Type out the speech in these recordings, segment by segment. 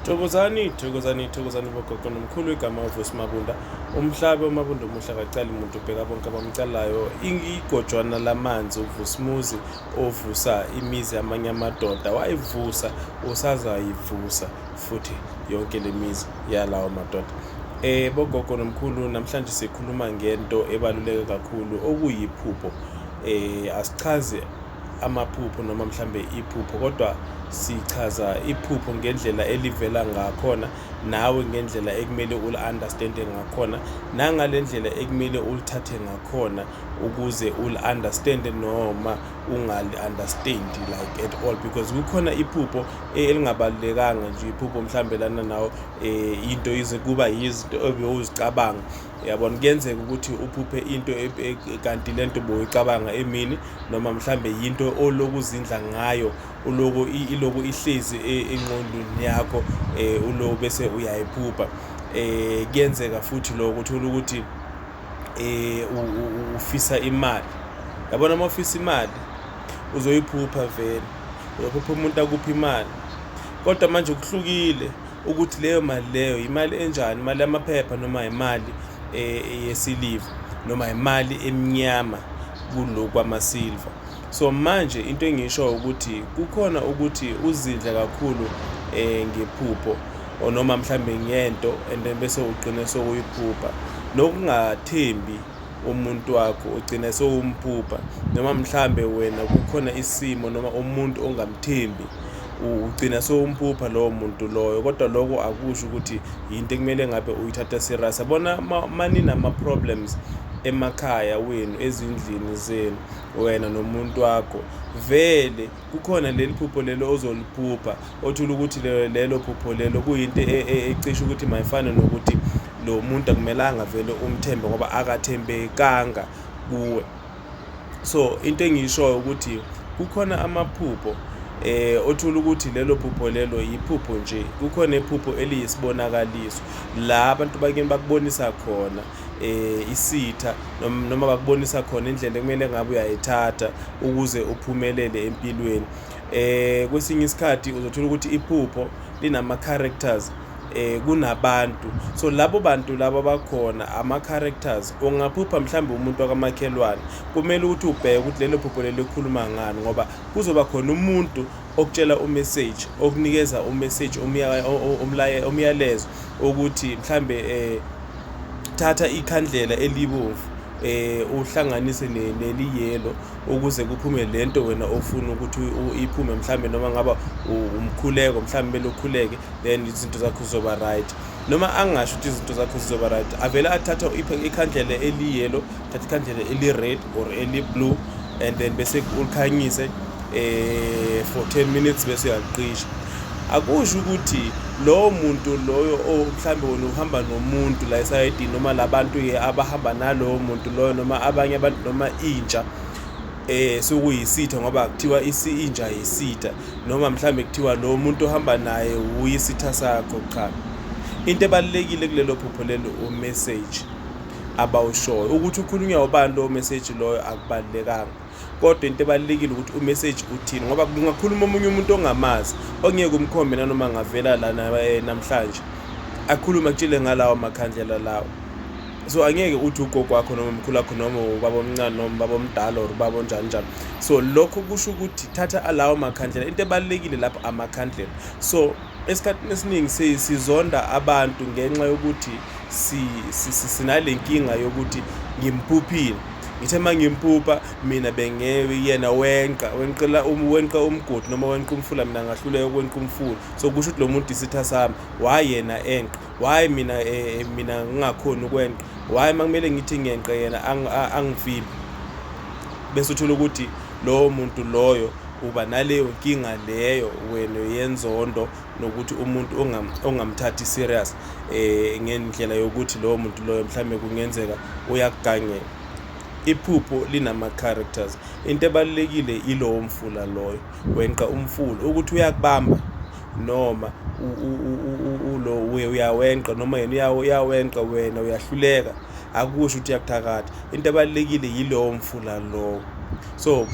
Thokozani, thokozani, thokozani bogogo nomkhulu igama uVusi Mabunda. Umhlabe uMabunda omuhle akacali muntu ubheka bonke abamcalayo. Igojwana lamanzi uVusimuzi ovusa imizi yamanye amadoda wayivusa usazayivusa futhi yonke lemizi yalawo madoda. Eh bogogo nomkhulu namhlanje sikhuluma ngento ebaluleke kakhulu okuyiphupho. Eh asichaze amaphupho noma mhlambe iphupho kodwa sichaza iphupho ngendlela elivela ngakhona nawe ngendlela ekumele uli-understande ngakhona nangale ndlela ekumele ulithathe ngakhona ukuze uli-understande noma ungali-understandi like at all because kukhona iphupho eh, elingabalulekanga nje iphupho mhlawumbe lana nawo um eh, into ize kuba yizinto obewuzicabanga yabona kuyenzeka ukuthi uphuphe into e, e, kanti le nto boyicabanga emini noma mhlambe yinto oloku uzindla ngayo uloku iloku ihlezi e, enqondweni yakho um uloku bese uyayiphupha um kuyenzeka futhi loko uthole ukuthi um ufisa imali yabona uma ufisa imali uzoyiphupha vele uzophupha umuntu akuphi imali kodwa manje kuhlukile ukuthi leyo mali leyo imali enjani imali yamaphepha noma imali eh, yesiliva noma imali emnyama kulo kwamasilva so manje into engisho ukuthi kukhona ukuthi uzidle kakhulu eh ngephupho or noma mhlambe ngento and then bese ugcine sokuyiphupha nokungathembi umuntu wakho ugcina sewumphupha noma mhlambe wena kukhona isimo noma umuntu ongamthembi ugcina sewumphupha lowo muntu loyo kodwa lokho akusho ukuthi yinto ekumele ngabe uyithatha serious yabona maninama-problems emakhaya wenu ezindlini zenu wena nomuntu wakho vele kukhona leli phupho lelo ozoliphupha othula ukuthi lelo phupho lelo kuyinto e, e, ecisha ukuthi mayifane nokuthi lo muntu akumelanga vele umthembe ngoba akathembekanga kuwe so into engiyishoyo ukuthi kukhona amaphupho eh othula ukuthi lelo phupho lelo yiphupho nje kukhona iphupho eliyisibonakaliso la abantu bakini bakubonisa khona eh isitha noma bakubonisa khona indlela ekumele ngabe uyayithatha ukuze uphumelele empilweni eh kwesinye isikhathi uzothola ukuthi iphupho linama characters eh kunabantu so labo bantu laba bakhona ama characters ungaphupha mhlawumbe umuntu wakamakhelwane kumele ukuthi ubheke ukuthi lelo phupho lelikhuluma ngani ngoba kuzoba khona umuntu okutshela umessage okunikeza umessage umyalezo ukuthi mhlambe eh thatha ikhandlela elibomvu eh uhlanganise neliyelo ukuze kuphume lento wena ofuna ukuthi iphume mhlambe noma ngaba umkhuleko mhlambe belokhuleke then izinto zakho zizoba right noma angasho ukuthi izinto zakho zizoba right avele athatha ikhandlela eliyelo thatha ikhandlela eli-red or eli-blue and then bese ulikhanyise eh for 10 minutes bese uyaqisha akusho ukuthi lowo muntu loyo mhlawumbe wena uhamba nomuntu la esayidini noma labantu ke abahamba nalowo muntu loyo noma abanye abantu noma intsha eh sokuyisitha ngoba kuthiwa inja yisitha noma mhlambe kuthiwa lo muntu ohamba naye uyisitha sakho cha into ebalekile kulelo phupho lelo u message abawushoyo ukuthi ukhulunywa ubani lowo message loyo akubalulekanga kodwa into ebalulekile ukuthi umessage uthini ngoba kungakhuluma omunye umuntu ongamazi ongeke umkhombe nanoma ngavela lana eh, namhlanje akhulume akutshile ngalawo makhandlela lawo so angeke uthi ugogo wakho noma mkhulu wakho noma ubaba omncane noma ubaba omdala or ubaba onjani njalo so lokho kusho ukuthi thatha alawo makhandlela into ebalulekile lapho amakhandlela so esikhathini esiningi si- sizonda abantu ngenxa yokuthi si- si- si- sinale nkinga yokuthi ngimphuphile ngithe uma ngimpupha mina bengeke yena wenqa wenqela um- wenqa umgodi noma wenqa umfula mina ngahluleka ukwenqa umfula so kusho ukuthi lo muntu isitha sami why yena enqa why mina eh, eh, mina ngingakhoni ukwenqa why uma kumele ngithi ngiyenqa yena ang- a- angivimbi bese uthola ukuthi Lowo muntu loyo uba naleyo nkinga leyo wena yenzondo nokuthi umuntu ongam, ongamthathi serious eh ngendlela yokuthi lowo muntu loyo mhlambe kungenzeka uyakugangela iphupho linama-characters into ebalulekile ilowo mfula loyo wenqa umfula ukuthi uyakubamba noma ulo uyawenqa noma yena uyawenqa wena uyahluleka akusho ukuthi uyakuthakatha into ebalulekile yilowo mfula lowo so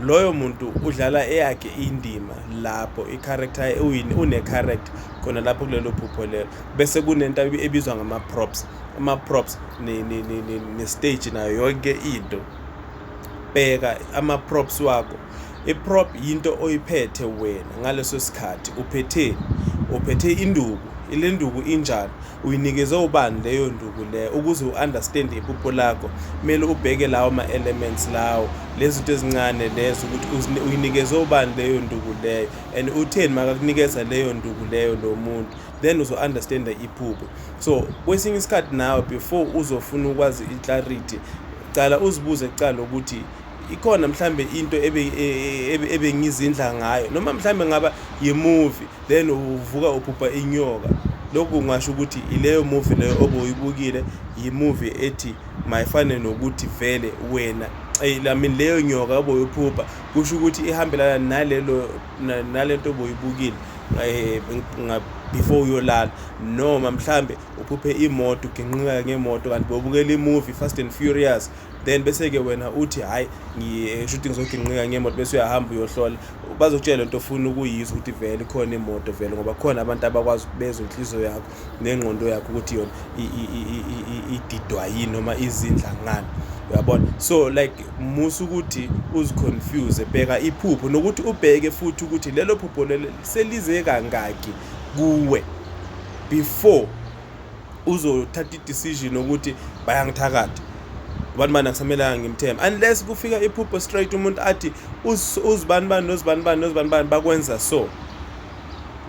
loyo muntu udlala eyakhe indima lapho i-character uyini une-character khona lapho kulelo phupho lelo bese kunento ebizwa ngama-props ama-props ne-stage nayo yonke into bheka ama-props wakho I-prop yinto oyiphethe wena ngaleso sikhathi uphetheni uphethe induku ile nduku injani uyinikeze ubani leyo nduku leyo ukuze u-understand iphupho lakho kumele ubheke lawo ma-elements lawo lezi zinto ezincane lezo ukuthi uyinikeze ubani leyo nduku leyo and utheni makakunikeza leyo nduku leyo lo muntu then uzo-understanda iphupho so kwesinye isikhathi nawe before uzofuna ukwazi i-clarity cala uzibuze kucala ukuthi ikhona mhlambe into e, e, e, ebengizindla ngayo noma mhlambe ngaba yimovie then uvuka ubhubha inyoka lokhu ngasho ukuthi ileyo movie leyo obuyibukile yimovie ethi mayifane nokuthi vele wena I mean leyo nyoka oboyiphupha kusho ukuthi ihambelana nalelo nalento oboyibukile eh, before uyolala noma mhlambe uphuphe imoto uginqika ngemoto kanti bobukela imovie fast and furious then bese-ke wena uthi hhayi ngishuthi ngizoginqika ngemoto bese uyahamba uyohlola bazokutshela lento ofuna ukuyizwa ukuthi vele khona imoto vele ngoba khona abantu abakwazi ukubezwa inhliziyo yakho nengqondo yakho ukuthi yona ididwa yini noma izindla ngani uyabona so like musa ukuthi uziconfuse bheka iphupho nokuthi ubheke futhi ukuthi lelo phupho lelo selize kangaki kuwe before uzothatha i-decision ukuthi bayangithakatha ubani bani akusamelanga ngimthembe unless kufika iphupho straight umuntu athi uzibani bani nozibani bani nozibani bani bakwenza so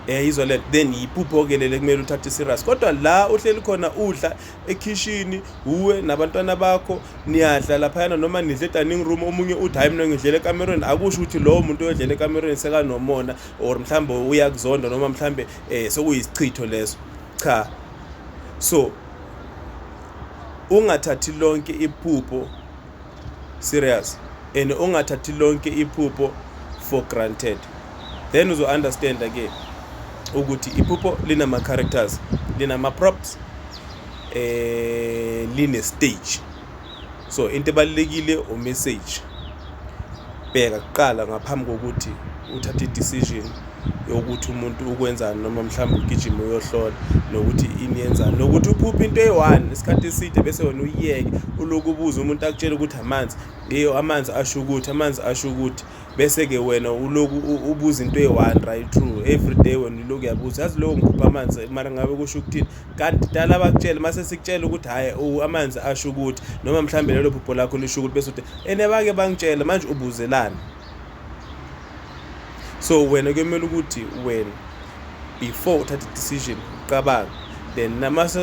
eh izwa le then yiphupho ke lele kumele uthathe serious kodwa la uhleli khona udla ekhishini uwe nabantwana bakho niyadla laphayana noma nidle dining room omunye uthi hayi mina ngidlela ekamerweni akusho ukuthi lowo muntu oyodlela ekamerweni sekanomona or mhlawumbe uyakuzonda noma mhlawumbe eh sokuyisichitho leso Cha. So ungathathi lonke iphupho serious and ungathathi lonke iphupho for granted then uzo understand ke ukuthi iphupho linama characters linama props eh line stage so into ebalulekile u message bheka kuqala ngaphambi kokuthi uthathe i-decision yokuthi umuntu ukwenzani noma mhlawumbe ugijima uyohlola nokuthi ini yenzani nokuthi uphuphe into eyi-one isikhathi eside bese wena uyiyeke uloku ubuza umuntu akutshele ukuthi amanzi eyo amanzi asho ukuthi amanzi asho ukuthi bese-ke wena uloku ubuza into eyi-one right true every day wena uloku uyabuza yazi lowo ngiphupha amanzi mara ngabe kusho ukuthini kanti dala bakutshele mase sikutshela ukuthi hayi amanzi asho ukuthi noma mhlawumbe lelo phupho lakho lisho ukuthi bese uthi ene bake bangitshela manje ubuzelani so wena kuyomele ukuthi wena before uthathe decision uqabanga then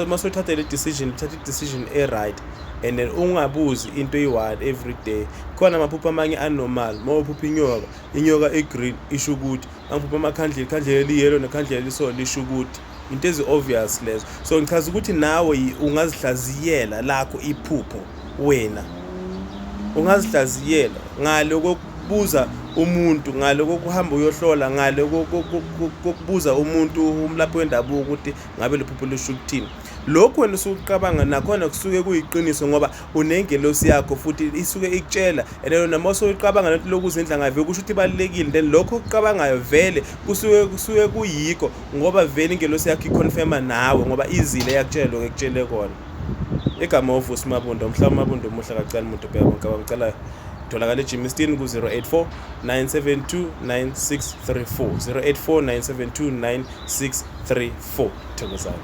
masothathe le decision uthathe i-decision e-right and then ungabuzi into eyi-one every day khona amaphupho amanye anormal uma uphupha inyoka inyoka i-green isho ukuthi angiphupha amakhandlela ikhandlela eliyelo nekhandlela eliso lisho ukuthi into ezi-obvious lezo so ngichaza ukuthi nawe ungazihlaziyela lakho iphupho wena ungazihlaziyela ngale kokubuza umuntu ngale kokuhamba uyohlola ngale kokubuza umuntu umlaphi wendabuko ukuthi ngabe liphupho lisho ukuthini lokhu wena usukuqabanga nakhona kusuke kuyiqiniso ngoba unengelosi yakho futhi isuke ikutshela and then noma usuqabanga lento lokuza endlanga vele kusho ukuthi ibalekile then lokho okuqabangayo vele kusuke kusuke kuyikho ngoba vele ingelosi yakho iconfirma nawe ngoba izile yakutshela lokho ekutshele kona igama ovusi mabundo mhla umabundo omuhle kacela umuntu bheka bonke abamcelayo tholakala ejimistin ku-084 972 9634 084 972 9634 thokozani